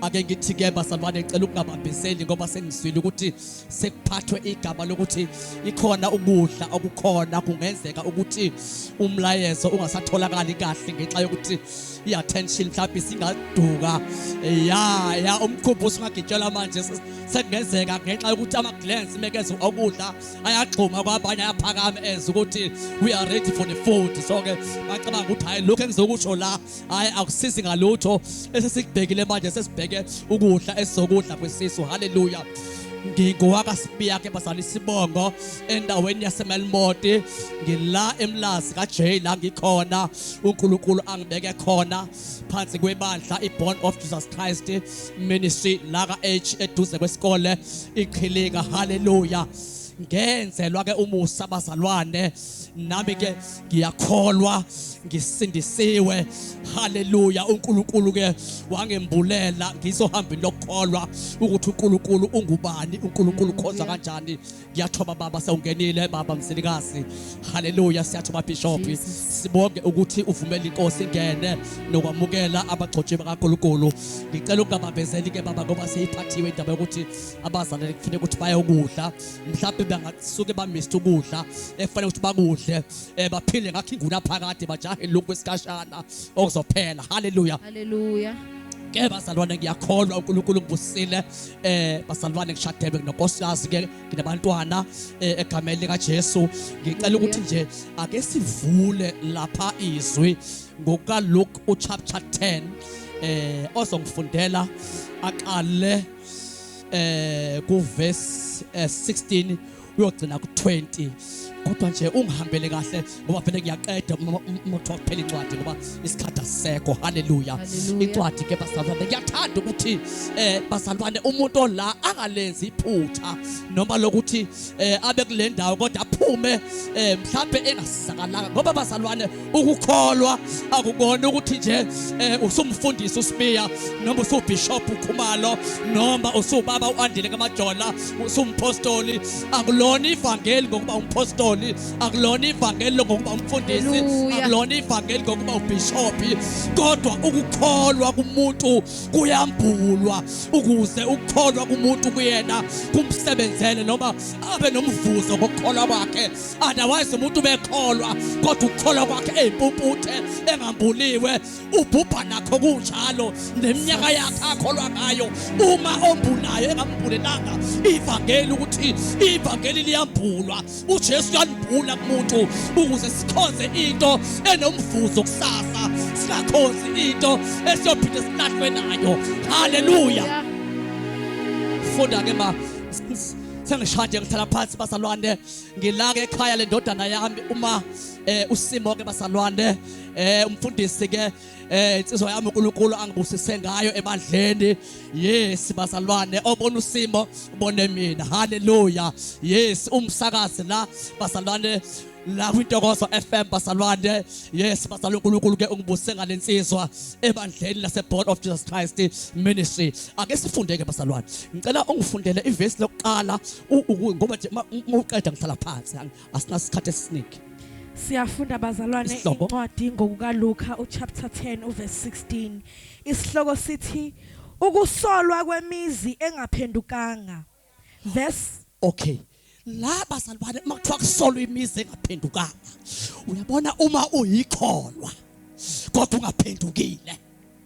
ake ngithi ke bazalwane ngicela ukungabambiseli ngoba sengizwile ukuthi sekuphathwe igama lokuthi ikhona ukudla okukhona kungenzeka ukuthi umlayezo ungasatholakali kahle ngenxa yokuthi i-attention mhlawumbe singaduka ya ya umkhumbu usungagitshelwa manje sekungenzeka ngenxa yokuthi ama-glans mekeze okudla ayagxuma kwabanye ayaphakama enza ukuthi we are ready for the food so-ke bacabanga ukuthi hhayi lokhu engizokusho la hayi akusizi ngalutho esesikubhekile manje sesibheke ukudla esizokudla kwesisu haleluya ngingowakasibiyakhe bazali isibongo endaweni yasemelmoti ngila emlazi kajay la ngikhona unkulunkulu angibeke khona phansi kwebandla i-born of jesus christ ministry la ka-h eduze kwesikole iqhilinga haleluya ngenzelwa-ke umusa bazalwane nami ke ngiyakholwa ngisindisiwe haleluya uNkulunkulu ke wangembulela ngizohamba lokukholwa ukuthi uNkulunkulu ungubani uNkulunkulu khonza kanjani ngiyathoba baba sewungenile baba msilikazi haleluya siyathoba bishop sibonge ukuthi uvumela inkosi ingene nokwamukela abagcotshi bakaNkulunkulu ngicela ukungabambezeli ke baba ngoba seyiphathiwe indaba yokuthi abazalwane kufanele ukuthi bayokudla mhlawumbe bangasuke bamiste ukudla ekufanele ukuthi bakudle um baphile ngakho inguna phakade bajahe lokhu kwesikashana okuzophela haleluya haleluya ke bazalwane ngiyakholwa uNkulunkulu ngibusile eh bazalwane ngishadelwe nokosikazi ke nginabantwana eh, egameni lika Jesu ngicela ukuthi nje ake sivule lapha izwi ngoka Luke uchapter 10 eh ozongifundela aqale eh ku verse 16 eh, uyogcina ku 20 kodwa nje ungihambele kahle ngoba vele ngiyaqeda uma kuthiwa kuphela incwadi ngoba isikhathi asisekho haleluya incwadi ke bazalwane ngiyathanda ukuthi eh bazalwane umuntu ola angalenzi iphutha noma lokuthi eh abe kule ndawo kodwa aphume eh mhlawumbe engasizakalanga ngoba bazalwane ukukholwa akukona ukuthi nje eh, usumfundisi uSibiya noma usubishop uKhumalo noma usubaba uAndile kaMajola usumpostoli akulona ivangeli ngokuba umpostoli akulona ivangeli ngokuba umfundisi akulona ivangeli ngokuba ubishop kodwa ukukholwa kumuntu kuyambulwa ukuze ukukholwa kumuntu kuyena kumsebenzele noma abe nomvuzo ngokukholwa kwakhe otherwise umuntu ubekholwa kodwa ukukholwa kwakhe eyimpumputhe engambuliwe ubhubha nakho kunjalo neminyaka yakhe akholwa ngayo uma ombulayo engambulelanga ivangeli ukuthi ivangeli liyambulwa uJesu uyalibhula kumuntu ukuze sikhonze into enomvuzo kusasa singakhonzi into esiyophinde silahlwe nayo haleluya funda ke ma sengishade ngithala phansi bazalwane ngilake ekhaya lendodana yami uma eh usimo ke basalwane eh umfundisi ke eh insizwa yami uNkulunkulu angibusise ngayo ebandleni yes basalwane obona usimo ubone mina haleluya yes umsakazi la basalwane la kwintokozo FM basalwane yes basala uNkulunkulu ke ungibuse ngalensizwa ebandleni lase Board of Jesus Christ Ministry ake sifunde ke basalwane ngicela ungifundele ivesi lokuqala ngoba nje uma uqeda ngihlala phansi asinasikhathi esiningi Siyafunda bazalwane incwadi ngokukaLuka uchapter 10 uverse 16. Isihloko sithi ukusolwa kwemizi engaphendukanga. Verse Okay. La bazalwane uma kuthiwa kusolwa imizi engaphendukanga. Uyabona uma uyikholwa kodwa ungaphendukile.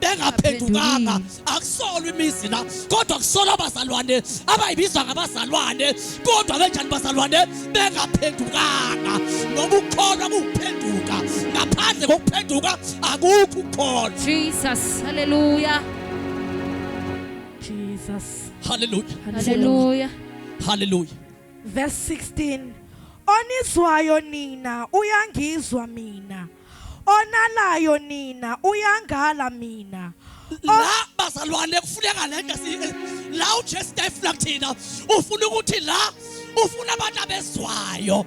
bengaphendukanga akusolwa imizi la kodwa kusolwa abazalwane abayibizwa ngabazalwane kodwa benjani bazalwane bengaphendukanga ngoba ukukholwa kuwuphenduka ngaphandle kokuphenduka akukho ukukholwa jesus haleluya jesus haleluya haleluya haleluya verse 16 onizwayo nina uyangizwa mina onalayo nina uyangala mina la bazalwane kufuneka le nto si- la ujesu ayifuna kuthina ufuna ukuthi la ufuna abantu abezwayo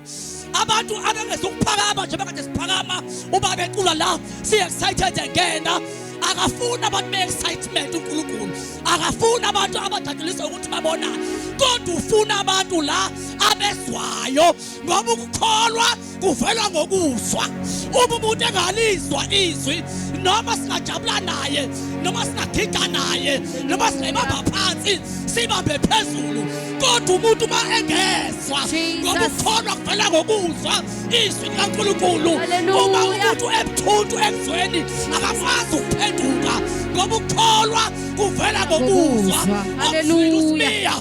abantu abengezukuphakama njengoba kade siphakama uba becula la si-excited engena akafuni abantu be-excitement unkulunkulu akafuni abantu abadaduliswa ukuthi babonane kodwa ufuna abantu la abezwayo ngoba ukukholwa kuvela ngokuzwa uma umuntu engalizwa izwi noma singajabula naye noma singagida naye noma singayibamba phansi sibambe phezulu kodwa umuntu uma engezwa ngoba ukukholwa kuvela ngokuzwa izwi likankulunkulu uma umuntu ebuthuntu ekuzweni akakwazi ukuphenduka ngoba ukukholwa kuvela ngokuzwa okuzwile usimiya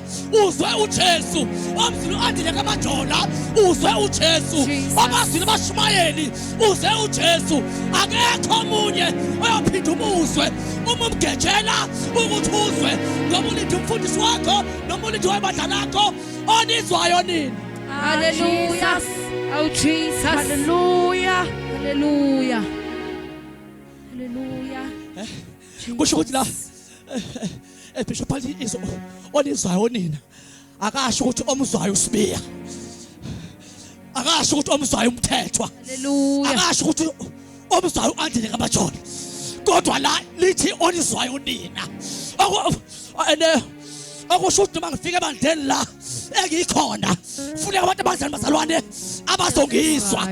uzwe uJesu omzini andile kamajola uzwe uJesu abazini bashumayeli uzwe uJesu akekho omunye oyophinda umuzwe uma umgejela ukuthi uzwe ngoba ulithi umfundisi wakho noma ulithi webandla lakho onizwayo nini haleluya awu jesus haleluya haleluya haleluya eh, kusho ukuthi la eh, eh, ebishop athi izo olizwayo nina akasho ukuthi omzwayo usibiya akasho ukuthi omzwayo umthethwa akasho ukuthi omzwayo uandile kabajona kodwa la lithi olizwayo nina akusho ukuthi noma ngifike ebandleni la engikhona funeka abantu abazali bazalwane abazongizwa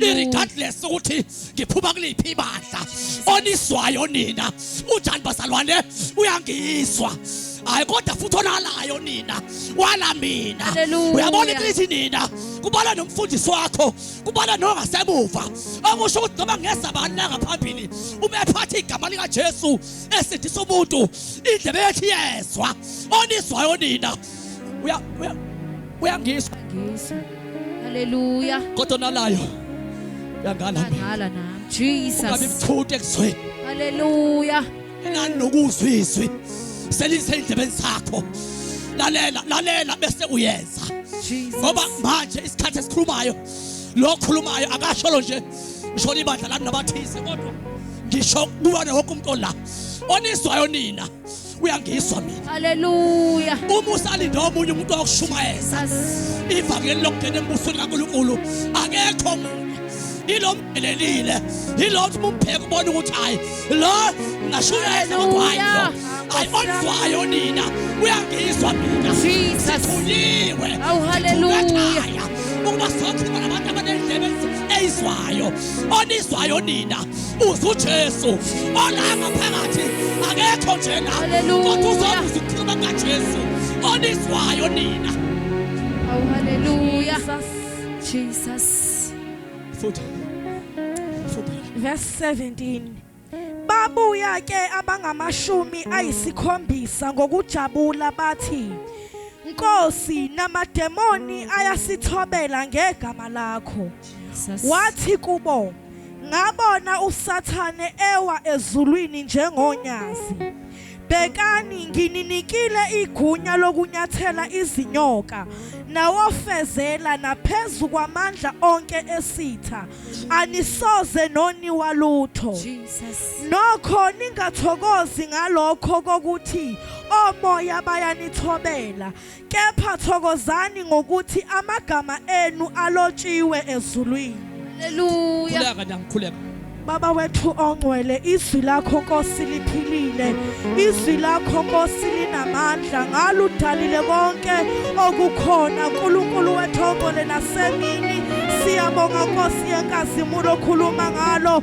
regardless ukuthi ngiphuma kuliphi ibandla oniswayo nina unjani bazalwane uyangizwa hayi kodwa futhi onalayo nina wala mina uyabona iklithi nina kubala nomfundisi wakho kubala nongasemuva okusho ukuthi noma ngeza bani la ngaphambili uma ephatha igama likajesu esindisa umuntu indlebe yethu iyezwa onizwayo nina uya uyangizwa ngizwa haleluya kodwa nalayo uyangala mina ngala nami jesus ungabe mthute kuzweni haleluya enani nokuzwa izwi selise indlebeni zakho lalela lalela bese uyenza ngoba manje isikhathi esikhulumayo lo khulumayo akasholo nje ngisho ibandla lami nabathize kodwa ngisho kuwane wonke umuntu ola onizwayo nina uyangizwa mina haleluya uma usalinde omunye umuntu wakushumayeza ivangeli lokungena embusweni kaNkulunkulu akekho munye ilomdelelile ilothi mumbheka ubona ukuthi hayi lo ngasho uyayena kodwa hayi lo hayi onzwayo nina uyangizwa mina sithuliwe awuhaleluya ukuba sokhuluma nabantu abanendlebe eyizwayo onizwayo nina uze uJesu olanga phakathi akekho njena kodwa uzobe uzikhuluma kaJesu onizwayo nina awu haleluya Jesus futhi futhi verse 17 babuya ke abangamashumi ayisikhombisa ngokujabula bathi Nkosi namademoni ayasithobela ngegama lakho wathi kubo Ngabona uSathane ewa ezulwini njengonyazi. Bhekani, ngininikile igunya lokunyathela izinyoka nawofezela naphezu kwamandla onke esitha, anisoze noniwa lutho. Nokho ningathokozi ngalokho kokuthi omoya bayanithobela, Kepha thokozani ngokuthi amagama enu alotshiwe ezulwini. Haleluya. Khuleka nami khuleka. Baba wethu ongcwele izwi lakho Nkosi liphilile izwi lakho Nkosi linamandla ngalo udalile konke okukhona uNkulunkulu wethu ongcwele nasemini siyabonga Nkosi yenkazimulo okhuluma ngalo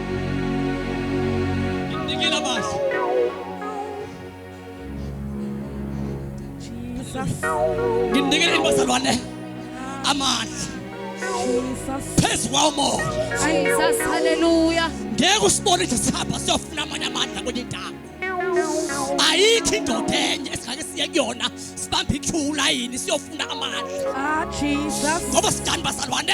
nginikele imbazalwane amandla phezu kwawo moya ngeke usibone ukuthi sihamba siyofuna amanye amandla kwenye indawo ayikho indoda enye esingake siye kuyona sibambe ithula yini siyofuna amandla ah, ngoba sidani bazalwane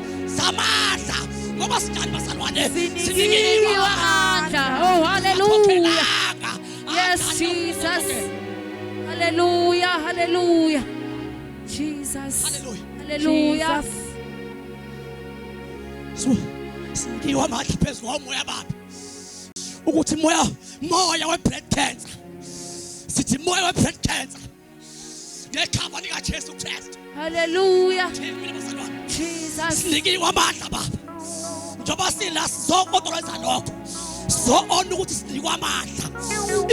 zamandla ngoba sinjani bazalwane sinikiwe amandla oh haleluya yes jesus haleluya haleluya jesus haleluya sinikiwe amandla phezu kwamoya baba ukuthi moya moya we bread cancer sithi moya we bread cancer ngegama likaJesu Kristu haleluya Jesus sinikiwe amandla baba njengoba sila sizokodoleza lokho sizoona ukuthi sinikwe amandla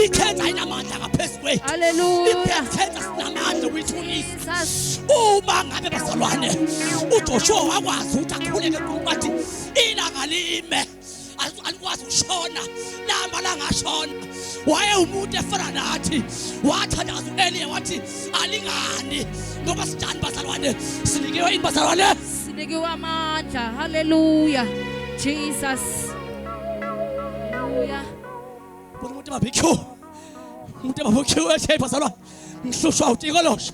ikhenza inamandla ngaphezulu kwethu haleluya ikhenza sinamandla ukuyithulisa uma ngabe bazalwane uJoshua wakwazi ukuthi akhuleke kuthi ilanga lime alikwazi ukushona lamba langashona waye umuntu efana nathi wathandaza uElie wathi alingani ngoba sidani bazalwane sinikiwe ini bazalwane sinikiwe amandla haleluya jesus haleluya bona umuntu babikho umuntu babikho ethi bazalwane ngihlushwa uTikolosha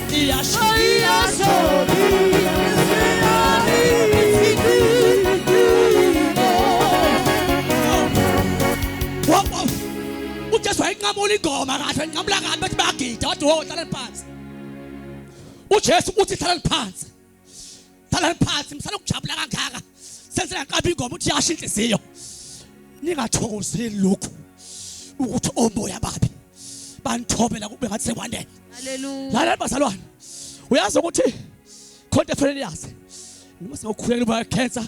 ujesu wayenqamula ingoma kahle enqamula kabi bethi bayagida wathi wo hlaleni phansi ujesu uthi hlaleni phansi Thala phansi msana ukujabula kangaka. Senze ngaqaba ingoma uthi yasho inhliziyo. Ningathokozeli lokhu ukuthi omoya babi banithobela kube ngathi sekwanele. Hallelujah. Lalela bazalwane. Uyazi ukuthi khonto efanele yazi. Noma sewukhulekela uba cancer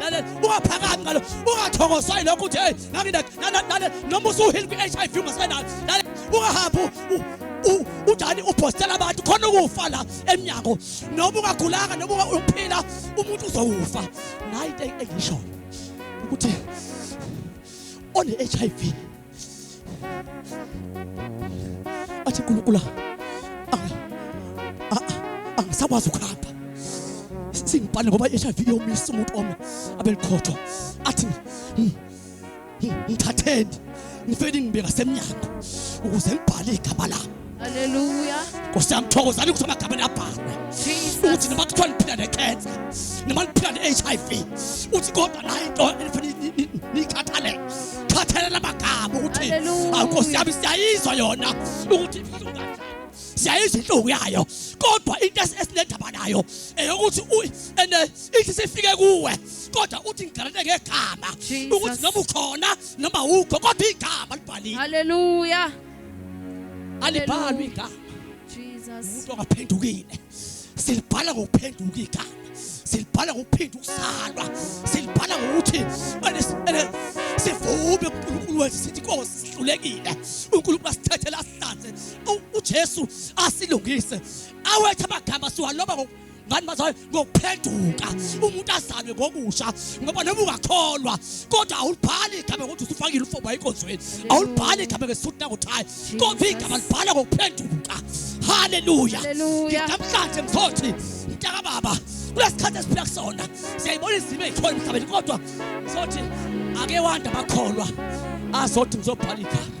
lalela ungaphakami ngalo ungathokozwa yilokho uthi hey ngakindale noma usuhili kwi-hiv ungasenayo lalela ungahambi udani uphostela abantu khona ukufa la emnyango noma ungagulanga noma uphila umuntu uzowufa nayi into engishoyo ukuthi one-hiv athi nkulunkulu angisakwazi ukuhamba singibhale ngoba i-hiv iyomisa umuntu omi abelikhotho athi hmm, hmm, ngithatheni ngifeni ngibeka semnyango ukuze ngibhale igama lami Haleluya. Nkosi yami thokozani ukuthi amagama nabhalwe. Uthi noma kuthiwa niphila ne-cancer, noma niphila ne-HIV, uthi kodwa nayo into enifanele nikhathalele. Khathalela amagama ukuthi awu Nkosi yami siyayizwa yona ukuthi siyayizwa inhlungu yayo kodwa into esinendaba nayo eyokuthi ene ithi sifike kuwe kodwa uthi ngigalele ngegama ukuthi noma ukhona noma ukho kodwa igama libhaliwe haleluya alibhalwe igama umuntu ongaphendukile silibhala ngokuphenduka igama silibhala ngokuphinda ukuzalwa silibhala ngokuthi sivume uNkulunkulu wethu sithi inkosi sihlulekile uNkulunkulu asithethele asihlanze uJesu asilungise awethu amagama siwaloba ngani bazali ngokuphenduka umuntu azalwe ngokusha ngoba noma ungakholwa kodwa awulibhali igama ngokuthi usufakile ufoba enkonzweni awulibhali igama ngesuthi nakuthayi kodwa igama libhala ngokuphenduka haleluya nginamhlanje mthothi mntaka baba kulesikhathi esiphila kusona siyayibona izimo ezikhona emhlabeni kodwa sothi ake wanda bakholwa azothi ngizobhala igama